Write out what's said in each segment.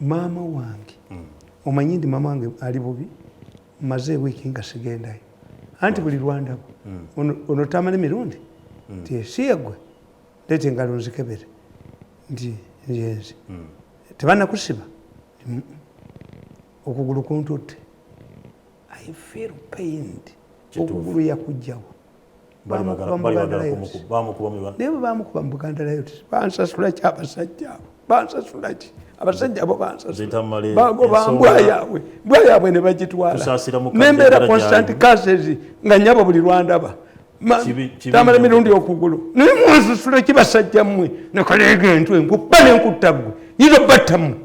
maama wange mm. omanyi ndi maama wange ali bubi maze wiiki nga sigendayo anti buli lwandaba mm. ono tamala emirundi mm. nti esiye gwe leeta engalo nzikebere nti nyenzi mm. tebanakusiba okugulu kuntutte I feel pained okugulu yakujjawo naye bwebamukuba mubuganda layo ti bansasula ki abasajja abo bansasula ki abasajja abo bansasulabagoba mbwa yaabwe mbwa yaabwe ne bagitwala nembeera constant cases nga nyabo buli lwandaba tamala emirundi okugulu naye munsusula ekibasajja mmwe nekaleega entwe nkuba nenkutta ggwe yinza obatta mmwe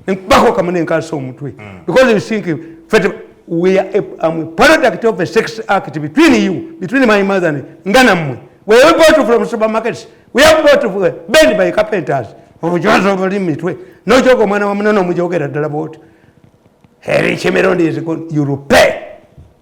nenkubako kamu nenkansa omutwe hmm. because you think fete we are a, um, a product of a sex act between you between my mother and nga nammwe we we bought from supermarkets we have bought uh, bend by carpenters obujozi obuli mitwe nokyoka omwana wa munene omujogera ddala bwoti eri kimirundi is good you repay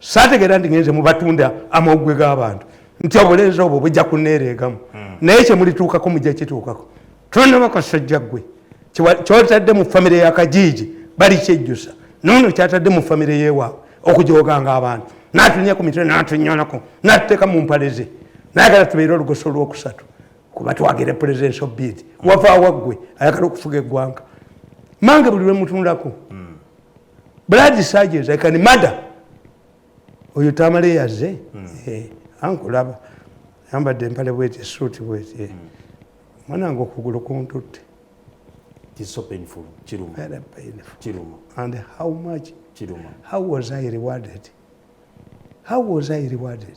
saategeera nti ngenze mubatunda amawugwe g'abantu nti obulenzi obwo bujja kuneereegamu hmm. naye kyemulituukako mujja kituukako tonaba kasajja ggwe kyotadde mu famire ya kajiiji bali kyejjusa noono kyatadde mu famire yewaabwe okujooganga abantu natunya ku mitwe natunyonako natuteeka mu mpale ze nayagala tubeere olugoso olwokusatu kuba twagere presidence of bid wavaawa ggwe ayagala okufuga eggwanga mange buli lwemutunulako hmm. blood surgeons i can murder oyo tamale yaze hmm. eh, ankulaba yambadde empale bweti suuti bweti eh. hmm. mwanange okugulu kuntutte how was i rewarded how was i rewarded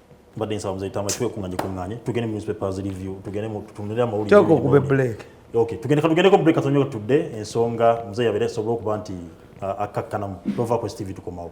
mbadde nsaba muzei tamba twekunganye kunganye tugende mu newspapers review tugende mu tutunire amawulire toko kube break okay tugende katugende ko break katonyo tudde ensonga muzei yabere sobola okuba nti uh, akakkanamu tova ku stv tukomawo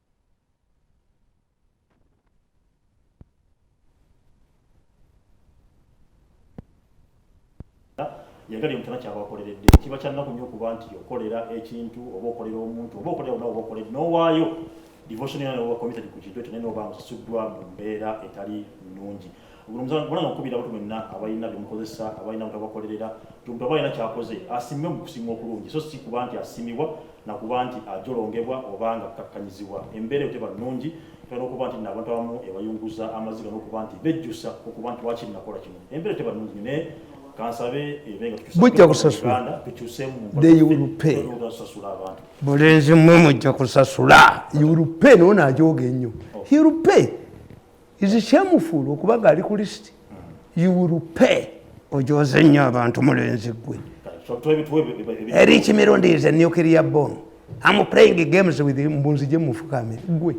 yagala emutana kyabakoleredde kiba kyannaku nyo okuba nti okolera ekintu oba okolera omuntu oba okolera onawe oba okolera nowaayo devotion yana oba committed ku kintu ekyo naye noba nga osasuddwa mu mbeera etali nnungi Mulanga okukubira abantu mwenna abalina bye mukozesa, abalina butabakolerera, omuntu aba alina kyakoze asiimwe mu kusiimwa okulungi, so si kuba nti asiimibwa na kuba nti ajolongebwa oba nga akkakkanyizibwa. Embeera eyo teba nnungi, tulina okuba nti nno abantu abamu ebayunguza amaziga n'okuba nti bejjusa okuba nti lwaki nnakola kino. Embeera teba nnungi naye kansabe ebe nga bujja kusasula abantu mulenzi mmwe mujja kusasula yurupe naona ajooga ennyo hirupe oh. is shameful okuba nga ali ku list you will pay ojoze nnyo abantu mulenzi gwe erich mirundi is a nuclear bone am playing games with him mbunzi gye mufukamire gwe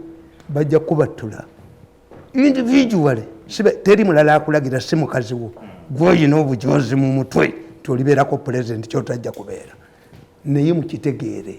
bajja kubattula individually sibe teri mulala akulagira si mukazi wo gwe olina obujozi mu mutwe tolibeerako pulezidenti kyotajja kubeera naye mukitegeere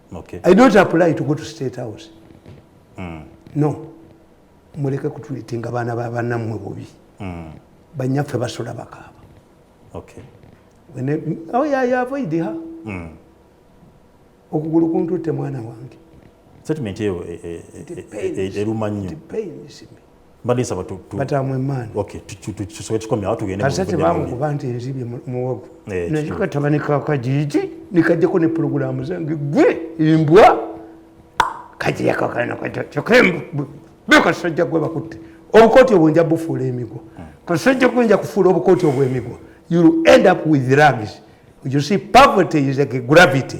Okay. I don't apply to go to state house. Mm. No. Muleke kutulitinga bana ba bana mwe bobi. Mm. Banyafe basula bakaba. Okay. When they, oh yeah, yeah, avoid her. Mm. Okugulu kuntu te mwana wange. Settlement eyo e, e, e, eruma nnyo. It pains me. mbadde nsaba batamu emaani tusobe kikomye awo tugendeate bamukuba nti enzibye muwogo eh, naye kataba nekakajiji nikajjako ne pulogulaamu zange gwe embwa kajiyakakanakyokembwa bekasajja gwe bakutte obukooti obwo nja bufuula emigwa hmm. kasajja gwe nja kufuula obukooti obwemigwa you end up with rugs you see poverty is like a gravity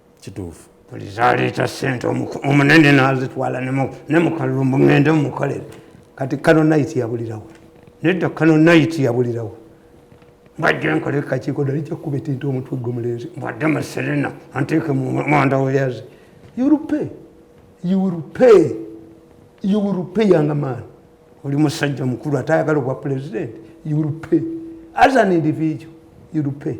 kituufu buli zaleeta sente omunene nazitwala ne mukalumbu ngende mukolere kati kano nayiti yabulirawo nedda kano nayiti yabulirawo mbadde nkola ekakiiko dali kyakuba etinta omutwe gwe mulenzi mbadde maserena anteeke mumwanda weyazi yurupe yurupe yurupe yanga maani oli musajja mukulu ate ayagala obwa pulezidenti yurupe as an individual yurupe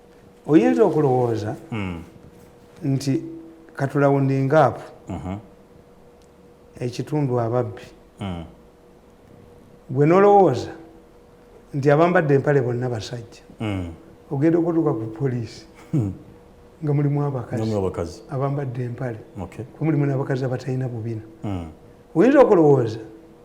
oyinza okulowooza hmm. nti katulawundingaapu mhm. ekitundu ababbi hmm. gwe nolowooza nti abambadde empale bonna basajja hmm. ogenda okutuuka ku poliisi nga mulimu abakazi abambadde empale kwe mulimu n'abakazi abatalina bubina oyinza okulowooza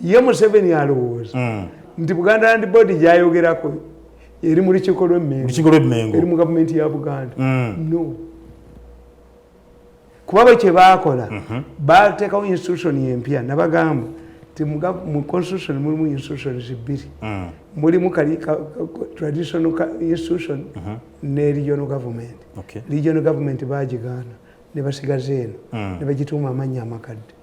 ye museveni alowooza mm. nti buganda land board gyayogerako eri mu lukiiko lwemmengo eri mu gavumenti ya buganda mm. no kuba bwe kye baakola mhm. bateekawo institution empya nabagamba ti mu constitution mulimu institutions bbiri mm. mulimu kali traditional institution mhm. ne regional government regional government bagigaana ne basigaza eno ne bagituuma amannya amakadde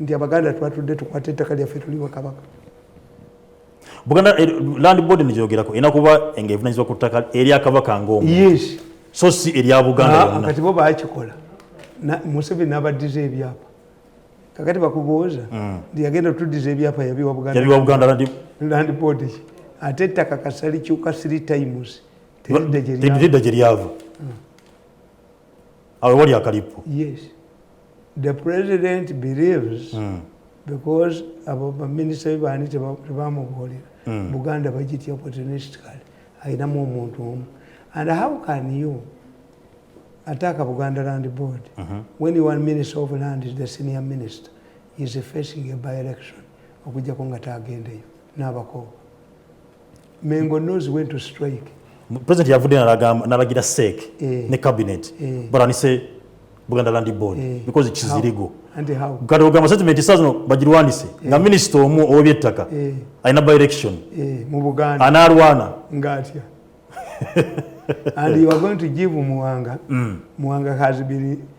nti abaganda twatudde tukwata ettaka lyaffe tuli bakabaka buganda eh, land board nijogerako erina kuba nga evunanyizibwa ku ttaka erya kabaka ngaomu so si erya buganda kati bo bakikola museveni nabaddiza ebyapa kakati bakubuuza mm. nti yagenda otuddiza ebyapa yabiwa buganda land board ate ettaka kasali kyuka three times teridda gye lyava awe wali akalippo yes the president believes mm. because abo baminisita bebaani tebamubuulira mm. buganda bagitya opportunistically ayinamu omuntu omu and how can you attack a buganda land board mm -hmm. when you are minister of land is the senior minister is facing a by election okujjako nga taagendeyo n'abakooba Mengo knows when to strike. President yavudde nalaga nalagira SEC eh, ne cabinet eh, baranise Buganda Land Board eh, because kizirigo kati ogamba statement sazino bagirwanise eh, nga minister omu ow'ebyettaka eh, alina by election eh, mu Buganda anaalwana ngaatya and you are going to give Muwanga mm. Muwanga has been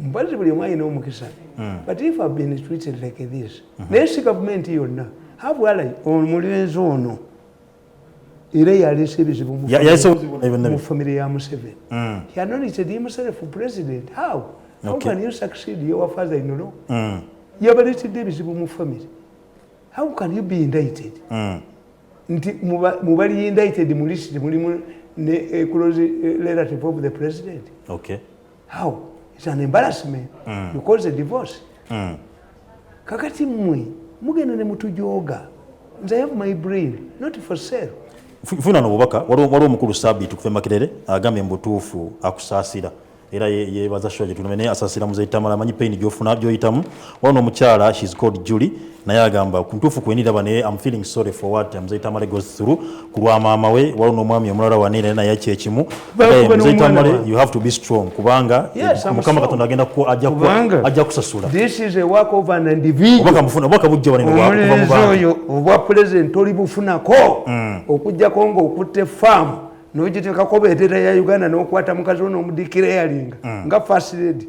mpazzi buli omu alina omukisa hmm. but if have been treated like this mhm. naye si gavumenti yonna habwalai omulenzi ono era yaleese ebizibu mu famire ya museveni hmm. yanonitedi himself president how how can you succeed your father in law hmm. yabaletedde ebizibu mu famire how can you be indicted nti mubali indicted mu list mulimu ne eh, close eh, relative of the president okay how it's an embarrassment mm. you cause a divorce mm. kakati mwe mugenda ne mutujoga nze i have my brain not for sale funa nobubaka waliwo omukulu sabiiti kufe makerere agambye mubutuufu akusaasira era yebaza shoa gyetuname naye asaasira muzetamala amanyi pain gyofuna gyoyitamu Wano omukyala she's called Julie naye agamba kuntuufu kweniraba naye am feeling sorry for what mzee Tamale goes through ku lwa maama we waliwo n'omwami omulala wani naye naye kyekimu mzee Tamale you have to be strong kubanga mukama katonda agenda ajja kusasula obwaka bujja wanenooyo obwa pulezidenti oli bufunako mm. okujjako ng'okutte faamu n'ogiteekako bendera ya uganda n'okwata mukazi wo n'omudikira eyalinga mm. nga fasiredi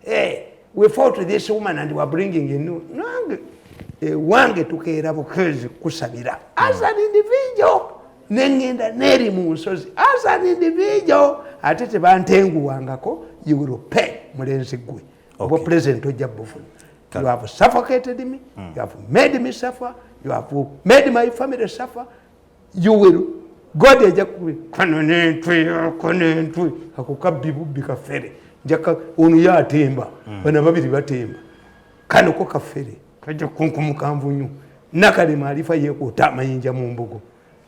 hey, eh, we fought this woman and we're bringing in new nange ewange eh, tukeera bukezi kusabira as an individual nengenda neeri mu nsozi as an individual ate tebantenguwangako you will pay mulenzi gwe obwa okay. president ojja bufuna you have suffocated me mm. you have made me suffer you have made my family suffer you will god eja kuwe kano nentwe ako nentwe ako kabbi bubbi kafere njaka ono yatemba mm. bana babiri batemba kano ko kafere kaja kunkumukamvu nyo nakale maarifa yekuta amayinja mu mbugo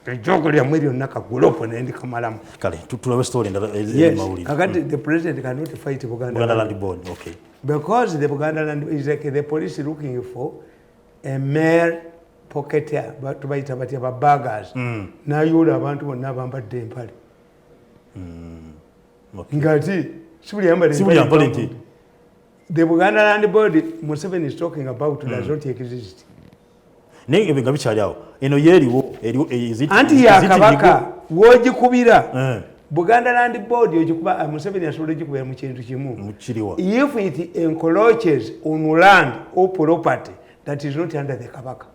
ejogo lya mweri onna kagulopo nendi kamalamu kale tutulabe story ndala eh, eh, yes. mawuli kakati mm. the president cannot fight buganda, buganda land board okay because the buganda land is like the police looking for emere poketa tubayita batya babagas hmm. nayoola abantu bonna abambadde empale hmm. ngati sibuli yambale nti the buganda land board museveni is talking about mm. does not exist naye ebyo nga bikyali awo eno yeeriwo anti yakabaka wogikubira eh. buganda land board ogikuba uh, museveni asobola ogikubera mu kintu kimu if it encroaches on land or property that is not under the kabaka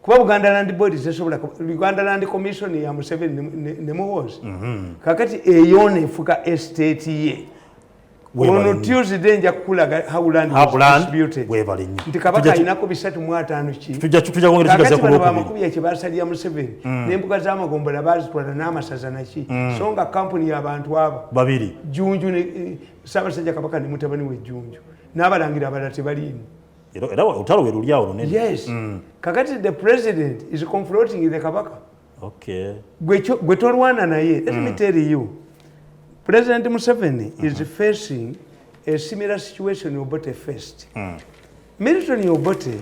kuba buganda land board tesobola uganda land commission ya museveni ne muhoozi mhm. kakati eyo nefuka estate ye ono tuesday nja kukulaga howlandwebale nyo nti kabaka alinako bisatu mu ataano kibamakubiya kyebasalira museveni mm. nembuga zamagombola bazitwala n'amasaza naki mm. so nga kampuni yabantu abo babiri junju eh, sabasajja kabaka ne mutabani we junju n'abalangira abalala tebaliimu era otalo werulyawo lunene yes mm. kakati the president is confronting the kabaka okay. gwe tolwana naye let mm. me tell you president museveni mm -hmm. is mm-hmm. facing a similar situation obote first mm. milton obote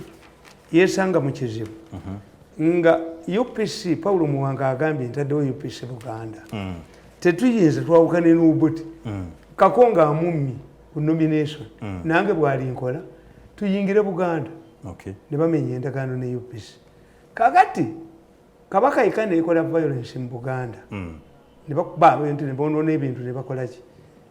yesanga mu kizibu mm -hmm. nga upc paulo muwanga agambye ntaddewo upc buganda mm. tetuyinza twawukane nobote mm. kako nga amummi ku nomination mm. nange bwali nkola tuyingire buganda okay. ne bamenya endagaano ne upc kakati kabaka yekka neyekola violence mu buganda hmm. nebakuba abintu nebonona ebintu nebakolaki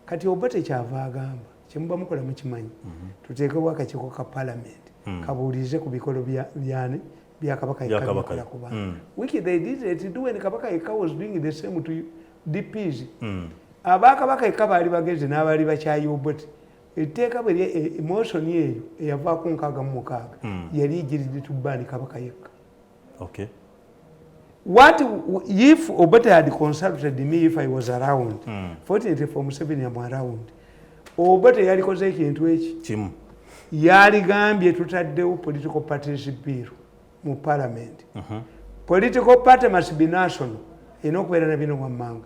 kati oba tekyava agamba kyemuba mukola mukimanyi mhm. tuteekewo akakiiko ka palamenti hmm. kabuulize ku bikolo byani byakabaka yekkakola ku bantu hmm. wiki they did it do when kabaka yekka was doing the same to dps abakabaka yekka baali bagenze n'abaali bakyayi obwete etteeka bwe e, emotion eyo eyavaako nkaaga mu mukaaga yali egiridde tubaani kabaka yekka okay. what if obata had consulted me if i was around mm. fortunately for museveni am around obata yalikoze ekintu eki kimu yaligambye tutaddewo political parties bill mu parliament uh mhm. -huh. political party must be national erina okubeera na bino wammanga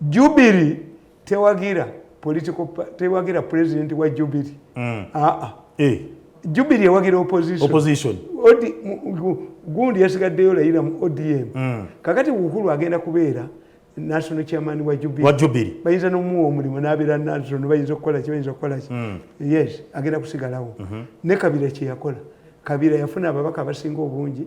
jubiri tewagira political tewagira president wa jubiri mm. aa ah, ah. eh. jubiri ewagira opposition opposition odi gundi yasigaddeyo layira mu odm mm. kakati uhuru agenda kubeera national chairman wa jubiri wa jubiri bayinza nomuwa omulimu nabeera national bayinza okukola ki bayinza okukola ki mm. yes agenda kusigalawo mm -hmm. ne kabira kyeyakola kabira yafuna ababaka abasinga obungi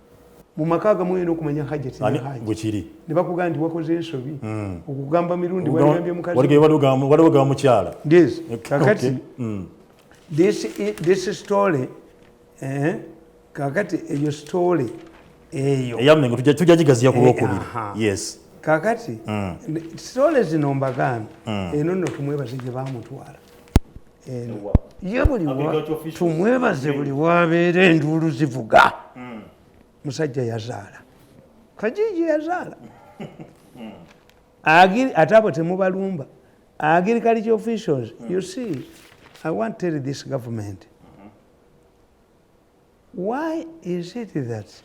mu maka agamu olina okumanya hajati bwekiri ne bakugamba nti wakoze ensobi hmm. okugamba mirundi wagambye mukaziwaliwo mukyala yes kakati hmm. this story eh, kakati eyo story eyo eyamengo tujja gigaziya ku eh, lwokubiri yes kakati hmm. story zino mbagamba eno nno tumwebaze gye bamutwala ye buli tumwebaze buli wabeera enduulu zivuga hmm. musajja yazaala kajiji yazaala hmm. ate abo temubalumba agriculture officials hmm. you see i want tell this government mm-hmm. why is it that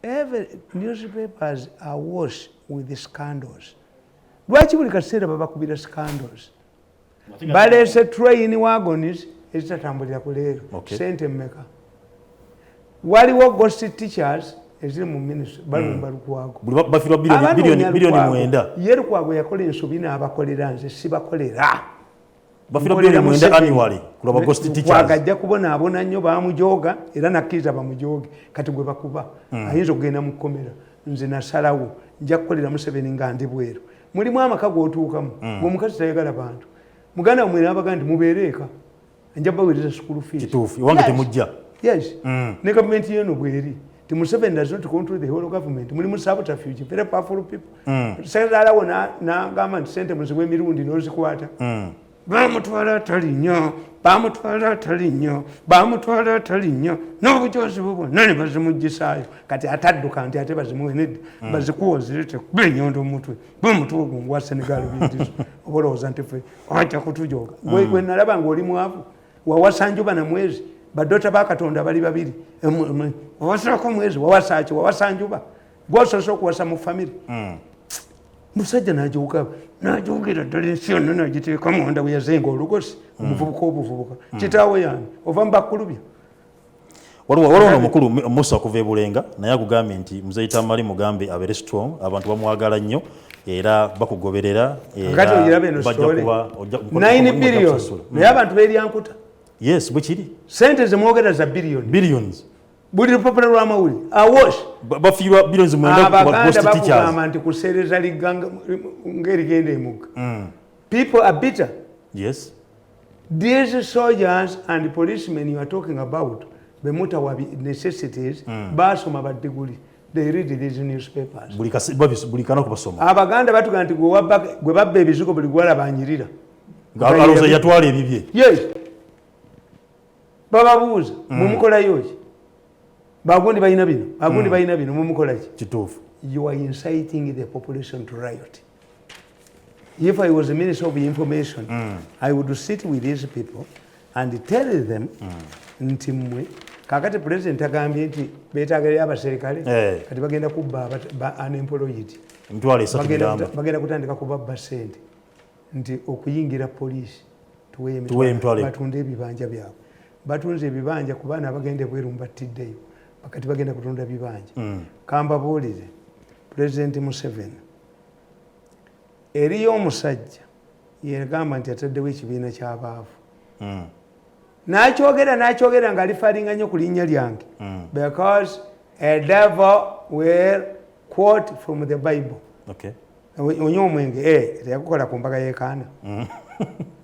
every newspapers are wash with scandals lwaki buli kaseera babakubira scandals baleese train wagonis ezitatambulira ku leero okay. sente mmeka waliwo gosi teachers eziri mu ministry balumba mm. lukwagobiliyoni mwenda ye lukwago yakola ensobi n'abakolera nze sibakolera agajja kubonaabona nnyo bamujooga era nakkiriza bamujooge kati gwe bakuba mm. ayinza okugenda mu kkomera nze nasalawo nja kukolera museveni nga ndi bweru mulimu amaka gotuukamu mm. omukazi tayagala bantu muganda wamwe nabaga nti mubeere eka nja bawereza sukulu fiwange temujja yes mm. ne gavumenti yeno bweri ti museveni does not control the whole government mulimu sabotafuge very powerful people mm. sekazalawo nagamba nti sente muziwa emirundi nozikwata bamutwala atali nnyo bamutwala atali nnyo bamutwala atali nnyo n'obujoozi bwe bwonna ne bazimuggisaayo kati atadduka nti ate bazimuwe nedda hmm. bazikuwa ozirete kuba enyondo omutwe gwe omutwe ogwo ngwa senegal bindizo oba olowooza nti fe ajja kutujooga hmm. gwe nalaba nga oli mwavu wawasa njuba na mwezi badota ba katonda bali babiri owasalako mwezi wawasaaki wawasa njuba gwasoose okuwasa mu famiry hmm. musajja najoga najogera ddala ensi yonna nagiteeka munda bweyazenga olugosi hmm. omuvubuka obuvubuka hmm. kitaawe yani ova mubakulubya waliwo waliwo omukulu musa okuva ebulenga naye akugambye nti mzei tamali mugambe abere strong abantu bamwagala nnyo era bakugoberera naye abantu beryankuta yes bwekiri sente zemwogera za billions buli lupapula lwamawuli awosh bafiirwa bironzi mwendaabaganda bakugamba nti kuseereza ligganga ngaerigenda emugga mm. people are bitter yes these soldiers and policemen you are talking about bemutawa necessities mm. basoma badiguli they read these newspapers buli kana kubasoma abaganda batugamba nti gwe babba ebizigo buli gwalabanyirira alowooza yatwala ebibye yes bababuuza mm. mumukolayo ki bagundi balina bino bagundi mm. balina bino mumukola ki kituufu you are inciting the population to riot if i was a minister of information mm. i would sit with these people and tell them mm. nti mmwe kakati president agambye nti betaagalira abaserikale eh. kati bagenda kubba unemployed bagenda kutandika kubabba sente nti okuyingira poliisi tuweebatunda ebibanja byabwe batunze ebibanja ku baana abagenda ebweru mubattiddeyo bakati bagenda kutunda bibanja mm. kambabuulire pulezidenti museveni eriyo omusajja yegamba nti ataddewo ekibiina ky'abaavu mm. nakyogera nakyogera nga alifalinga nnyo ku linnya lyange mm. because a devil will quote from the bible okay. onywa omwenge eh, teyakukola ku mbaga yekaana mm.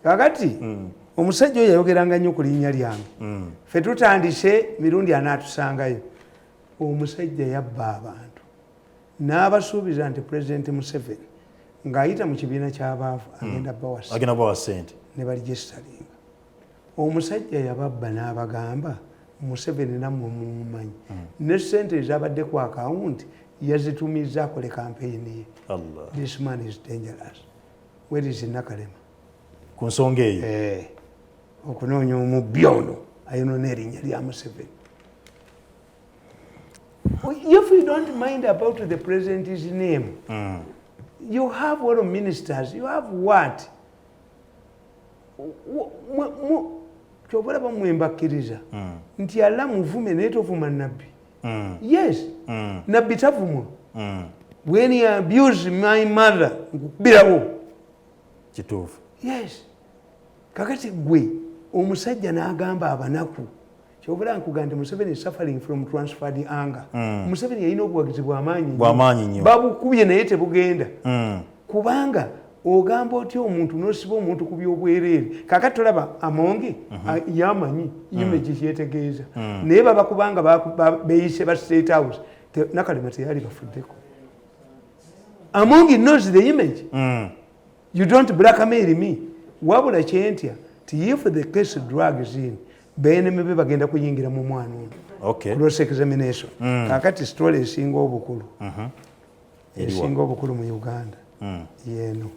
kakati mm. omusajja oyo yayogeranga nnyo ku linnya lyange mm. fe tutandise mirundi anaatusangayo omusajja yabba abantu n'abasuubiza nti pulezidenti museveni ng'ayita mu kibiina ky'abaavu agenda bawa sente ne balijestalinga omusajja yababba n'abagamba museveni namwe mumumanyi hmm. ne sente ezabadde ku akawunti yazitumizza akole kampeyini ye this man is dangerous where is nakalema ku nsonga eyo eh, okunoonya omubbi ono ayonona erinnya lya museveni if you don't mind about the president's name mm. you have all ministers you have what kyova olaba mwe mbakkiriza mm. nti alla muvume naye tovuma nabbi mm. yes mm. nabbi tavumwa when you abuse my mother nkukubirawo kituufu yes kakati gwe omusajja n'agamba abanaku kyobera nkugandi museveni suffering from transferred anger mm. museveni yalina obuwagizi bwamaanyi nyo babukubye naye tebugenda mm. kubanga ogamba otya omuntu nosiba omuntu ku byobwereere kaka tolaba amonge mm -hmm. yamanyi mm. image mm. yetegeeza mm. naye baba kubanga beyise ba state house te, nakalema teyali bafuddeko amonge knows the image mm. you don't blackmail me wabula kyentya ti if the case drugs in beneme be bagenda kuyingira mu mwana ono okay. cross examination mm. kakati story esinga obukulu uh mm-hmm. -huh. esinga obukulu mu uganda mm. yeno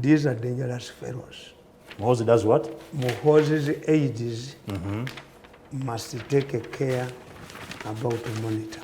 these are dangerous fellows muhozi does what muhozi's aids mm -hmm. must take a care about monitor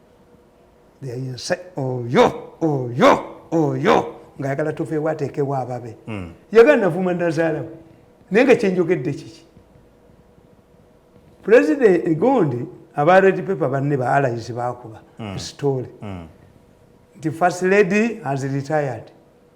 oyo oyo oyo ngaayagala tuveewo ateekewo ababe hmm. yagala navuma nazaalawo naye nga kyenjogedde kiki pulezidenti egondi aba red paper banne ba allies bakuba hmm. story hmm. nti first lady has retired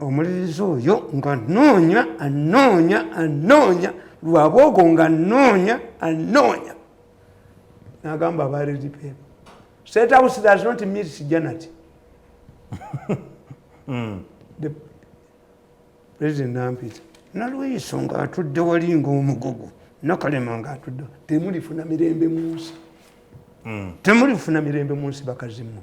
omulirizi oyo nga noonya anoonya anoonya lwabwogo nga noonya anoonya nagamba abaliri peeba state house does not meet sijanati hmm. the president nampita nalweyiso nga atudde wali nga omugogo nakalema nga atudde temulifuna mirembe munsi hmm. temulifuna mirembe munsi bakazimu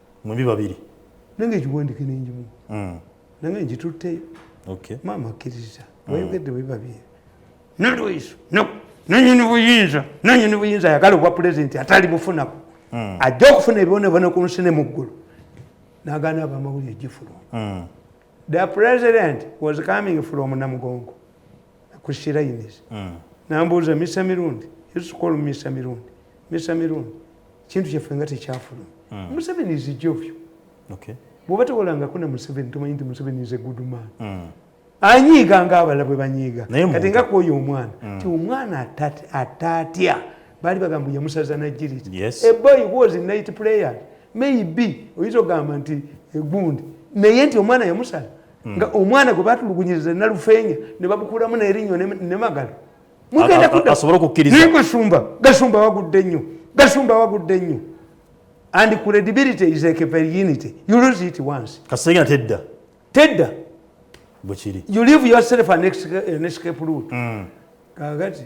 mwembi babiri nange ekiwandike nenjimu mm. nange njitutteyo okay. maama akkiriza mm. wayogedde bwe babiri nalwaiso no nanyini buyinza nanyini buyinza ayagala obwa pulezidenti atali bufunako mm. ajja okufuna ebibonebona ku nsi ne mu ggulu nagaana abamawulire gifuluma mm. the president was coming from namugongo ku sirayinizi mm. nambuuza misa mirundi yusukolu misa mirundi misa mirundi kintu kyaffe nga tekyafuluma mm. museveni zijovyo bwoba tewolangako ne museveni tomanyi nti museveni is a good man mm. anyiiga nga abala bwe banyiiga kati nga kwoyo omwana ti omwana ataatya baali bagamba yamusaza nagiriti a boy was night player maybe oyinza okugamba nti egundi naye nti omwana yamusala hmm. nga omwana gwe batulugunyiriza nalufeenya ne bamukuulamu nerinnyo ne magalo mugenda kudasobola okukkiriza naye gasumba gasumba wagudde nnyo gasumba wagudde nnyo and credibility is like a virginity you lose it once kasegna tedda tedda bwekiri you leave yourself an escape root mm. kakati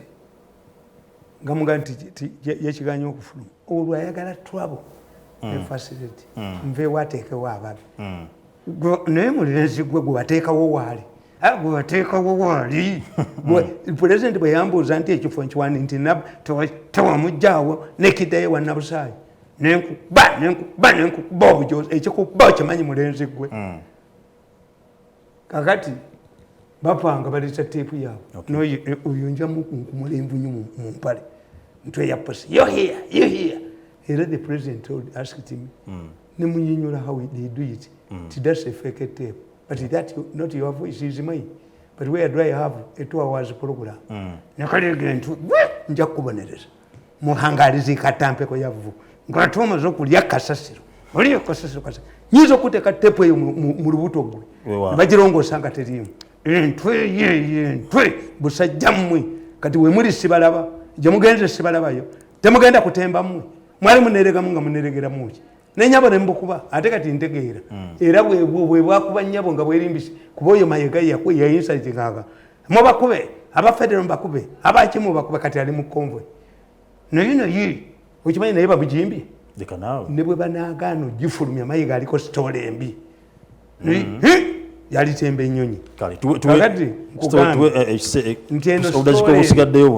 nga muga nti yakiganya okufuluma olwo ayagala trouble mm. ne facility mm. nveewo ateekewo ababi naye mulenzi gwe gwebateekawo waali ah, gwebateekawo waali pulezidenti bwe yambuuza nti ekifo nkiwani nti tewamugjawo nekidayo wanabusaayi nenkuba nenkuba nenkuba obujozi ekikuba okimanyi mulenzi gwe hmm. kakati bapanga baleta teepu yaabwe oyo njamukunkumula envunyu mu mpale ntweyaposi yohiya yohiya era the president asked me hmm. ne munyinyula how they do it mm. ti that's a fake tape but that not your voice is mine but where do i have a two hours program mm. nekalega nti nja kukubonereza muhangaliza ikatampeko yavvu ngolate omaze okulya kasasiro oliyo kasasiro kasa nyinza okuteka tepu eyo mu lubuto gwe nebagirongoosa nga teriimu entwe yeye entwe busajja mmwe kati wemuli sibalaba gyemugenze sibalabayo temugenda kutemba mmwe mwali muneregamu nga muneregeramu ki nenyabo nembukuba ate kati ntegeera hmm. era bwebwakuba nyabo nga bwerimbisi kuba oyo mayega yayinsatingaga mubakube abafedero mubakube abaki mubakube kati ali mu convoy naye naye okimanyi naye babujimbi ne bwe banagaana ogifulumya mayega aliko sitoola embi hmm. yalitemba enyonyi kati nkugambye eh, eh, nti eno sitoola embi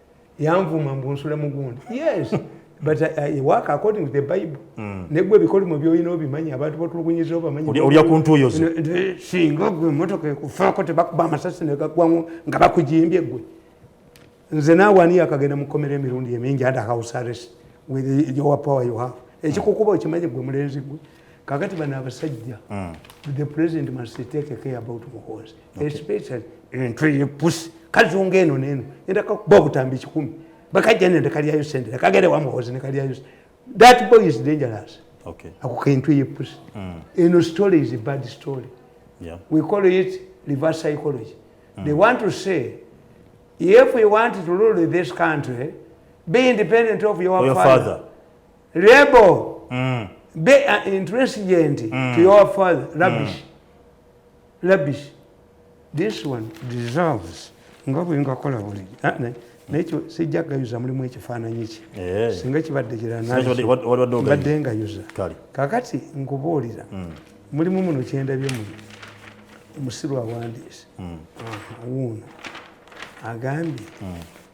yanvuma mbu nsula mugundi yes but uh, uh, i work according to the bible mm. negwe ebikolimo byolina obimanyi abantu batulugunyiza obamanyiolya ku ntuuyo zo singa gwe emotoka ekufaako tebakuba amasasi negagwamu nga bakujimbye gwe nze naawe ani yakagenda mukomera emirundi emingi under house arrest with your power you have ekikukuba okimanyi gwe mulenzi gwe kakati bano abasajja mm. the president must take care about muhoozi okay. especially entu eyepusi kazunga eno neno enda kakuba obutambi kikumi bakajja nende kalyayo sente kagere wa muhoozi ne kalyayo that boy is dangerous okay. ako kentu eyepusi mm. eno story is a bad story yeah. we call it reverse psychology mm. they want to say if we want to rule this country be independent of your, your father, father. Rebel. Mm. They are intransigent mm. to your father. Rubbish. Mm. Rubbish. This one deserves. Nga bwinga kola buli. Ah, nekyo sijja gayuza mulimu ekifaananyi kye eh. singa kibadde kiranaabadde ngayuza kakati nkubuulira hmm. mulimu muno kyendabye muno omusiru awandiise hmm. wuuno agambye hmm.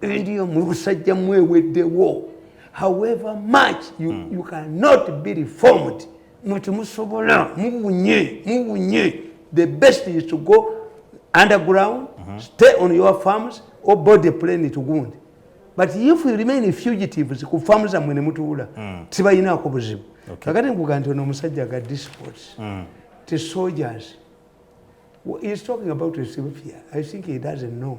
eriyo mu busajja mweweddewo however much you, mm. you cannot be reformed muti musobola mubunye mubunye the best is to go underground mm -hmm. stay on your farms or body plane to gundi but if you remain fugitives ku famu zammwe ne mutuula mm. tibalinaako buzibu kakati nkuga nti ono omusajja ga disports mm. ti soldiers is talking about ethiopia i think he doesn't know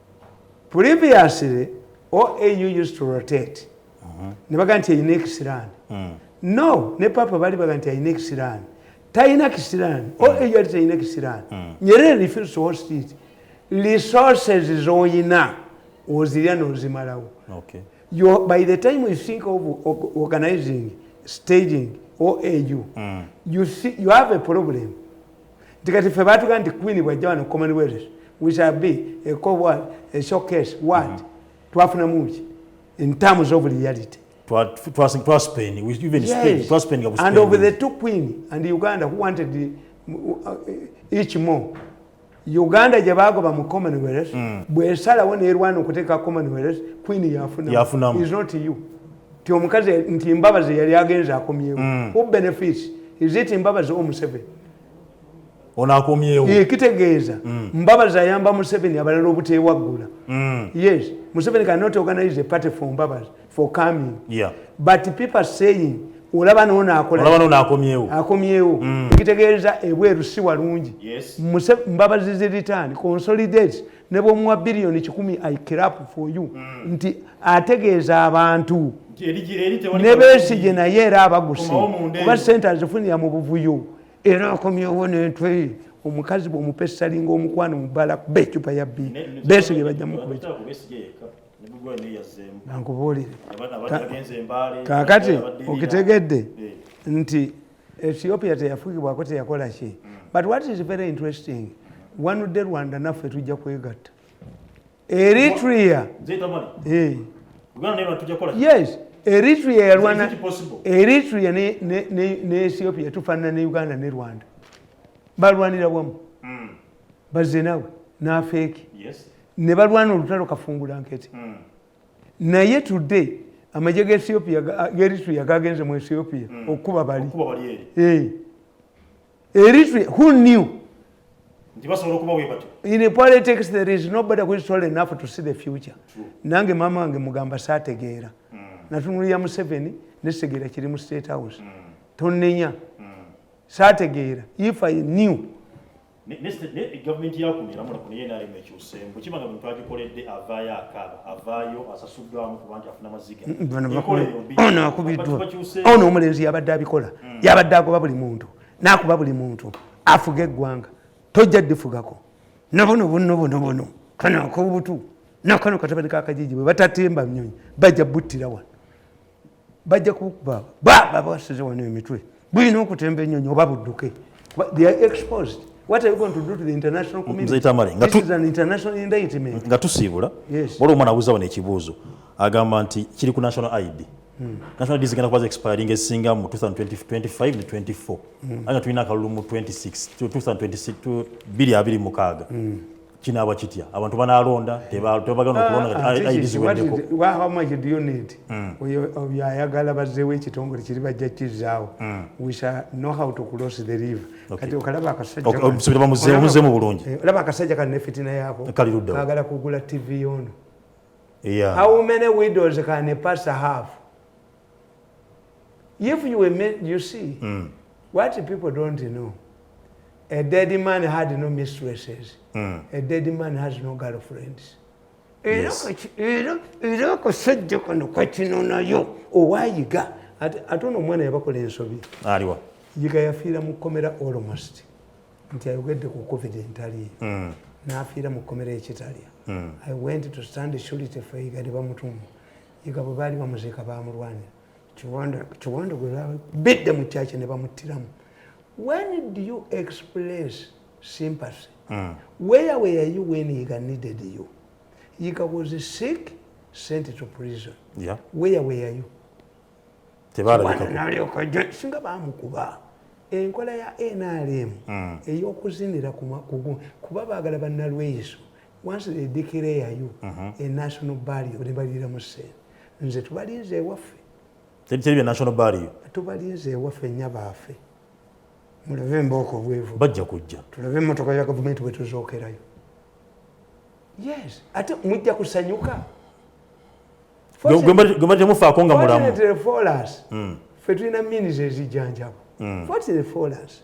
previously oau used to rotate mhm. ne baga nti erina ekisiraani mm. no ne papa bali baga nti alina ekisiraani talina kisiraani mm. oau yali talina kisiraani mm. nyerere refuse to host it resources zoyina ozirya nozimalawo by the time you think of organizing staging oau you have a problem nti kati ffe baatuga nti queen bwajja wano commonwealth we shall be a co what a showcase what mm -hmm. twafuna muki in terms of reality and of the two queen and uganda who wanted the, uh, each more uganda gye bagoba mu commonwealth mm. bwesalawo nerwana okuteeka commonwealth queen yafunamu is not you ti omukazi nti mbabazi yali agenze akomyewo mm. who benefits is it mbabazi o museveni ono akomyewo ye kitegeeza mm. mbabazi ayamba museveni abalala obutewaggula mm. yes museveni cannot organize a party for mbabazi for coming yeah. but people saying olaba noono akolakomyewo akomyewo mm. ekitegeeza ebweru si walungi yes. mbabazi ziritan consolidate ne bwomuwa biliyoni kikumi i crap for you mm. nti ategeeza abantu ne besigye naye era abaguse kuba sente azifunira mu buvuyo era akomyewo nentwe omukazi bwomupa essalinga omukwano mubala kuba ecupa ya bi besigye bajja mukuba nankubuulire kakati okitegedde eh. nti ethiopia teyafugibwako teyakola ki but what is very interesting one day rwanda naffe tujja kwegatta eritrea eh. yes eritrea yalwana eritrea ne ethiopia tufanana ne uganda ne rwanda balwanira wamu hmm. baze nawe nafeeki ne balwana olutalo kafungula nkete hmm. naye today amagye ga ethiopia geritria gagenze mu ethiopia mm. okukuba bali eh. eritria who knew in a politics there is nobody who is tall enough to see the future nange mama wange mugamba sategeera mm. natunulira museveni nesegeera kiri mu state house mm. tonenya sategeera if i knew gavumenti yakuno eramula kuno yenaremu ekyuseemu bwekiba nga bwetwagikoledde avaayo akaaba avaayo asasuddwamu kuba nti afuna maziga ono omulenzi yabadde abikola mm. yabadde agoba buli muntu nakuba buli muntu afuga eggwanga tojja ddifugako nabono bono bono bono kano akobutu nakano katabani kakajiji bwe batatemba nyonyi bajja buttira wano bajja kukuba baba basize wano emitwe bulina okutemba enyonyi oba budduke they are exposed what are you going to do to the international community mzee tamale nga tu an international indictment nga tusibula yes wali omwana abuza wano ekibuzo agamba nti kiri ku national id hmm. national id zigenda kuba expiring esinga mu 2025 ne 24 hmm. anga tulina akalulu mu 26 2026 bili abili mukaga hmm. kinaaba kitya abantu banalonda tebagana okulondaidizibwendekoahamajidioneti mm. oyo ayagala bazeewo ekitongole kiri bajja kizaawo mm. wisa nohow to close the river kati okalaba akasajjamuzeemu bulungi eh, olaba akasajja kano nefitina yaako kagala kugula tv yono how many widows can a pastor have If you were made, you see, mm. what people don't know, a dead man had no mistresses. Mm. A dead man has no girlfriends. Yes. era akasajja kano kakino nayo owayiga ate ono omwana yabakola ensobi aliwa yiga yafiira mu kkomera almost nti ayogedde ku covid entaliyo mm. n'afiira mu kkomera ekitalya mm. i went to stand surity for yiga ne bamutuma yiga bwe baali bamuziika baamulwanira kiwanda gwe bidde mu kyakye ne bamuttiramu when do you express sympathy mm. where were you when yiga needed you yiga was sick sent to prison yeah. where were you singa bamukuba enkola ya nrm mm. eyokuzinira kuba bagala banalweyiso once they declare you uh mhm. -huh. a national barrier ne balira mu sente nze tubalinze ewaffe teri bya national barrier tubalinze ewaffe nya baafe mulabe mbooko bwevu bajja kujja tulabe emmotoka ya gavumenti bwe tuzookerayo yes ate mujja kusanyuka gwemba temufaako nga mulamu hmm. fe tulina minis ezijanjabo hmm. fortunate for us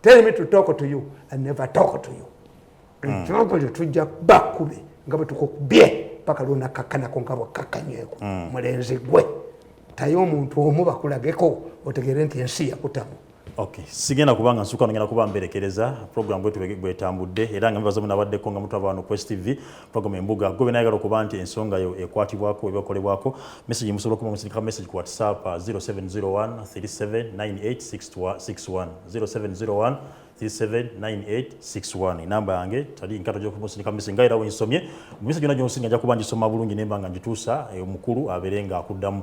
tell me to talk to you i never talk to you ekirogo lyo tujja bakube nga bwe tukukubye paka lwonakakkanako nga bwakakkanyweko mm. mulenzi gwe taye omuntu omu bakulageko otegere nti ensi yakutamu Okay. Sigenda kubanga nsuka ngenda kuba mberekereza program bwetu bwetambudde era nga mbaza munabaddeko nga mutwa abantu Quest TV Twagoma embuga gwe bena yagala okuba nti ensonga yo ekwatibwako ebakolebwako message musobola okuma musindika message ku whatsapp 0701 379861 0701 379861 enamba yange tali nkato gyokumusindika message nga era wensomye mumisa gyona gyonsinga nja kuba ngisoma bulungi nemba nga ngituusa omukulu eh, abeere nga akuddamu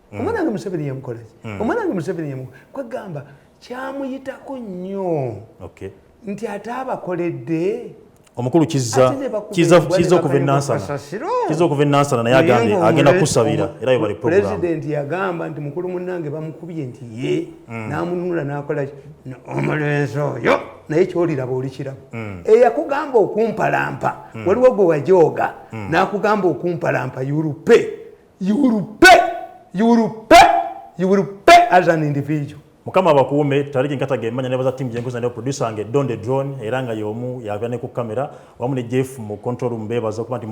mm. omwana wange museveni yamukolaki mm. omwana wange museveni yamu kwegamba kyamuyitako nnyo nti ate abakoledde omukulu kiza okuva enansanaiza okuva enansana naye agambye agenda kusabira era yobali pulezidenti yagamba nti mukulu munange bamukubye nti ye mm. namununula nakola omulenzi oyo naye kyoliraba olikiraba mm. eyakugamba okumpalampa mm. waliwo gwe wajooga nakugamba okumpalampa yurupe you will pay you will pay you will pay as an individual mukama abakuume taliki nkata gemanya nebaza timu gyenkuza ne producer wange don the drone era nga yomu yava ne ku kamera wamu ne jeff mu control room bebaza okuba nti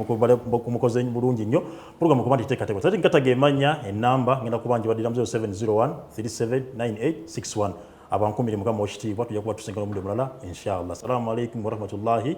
mukoze bulungi nnyo program okuba nti teekateeka taliki nkata gemanya enamba ngenda kuba njibadira muzero 701 379861 abankumire mukama okitiibwa tujja kuba tusinga n'omundi omulala inshallah assalamu alaikum warahmatullahi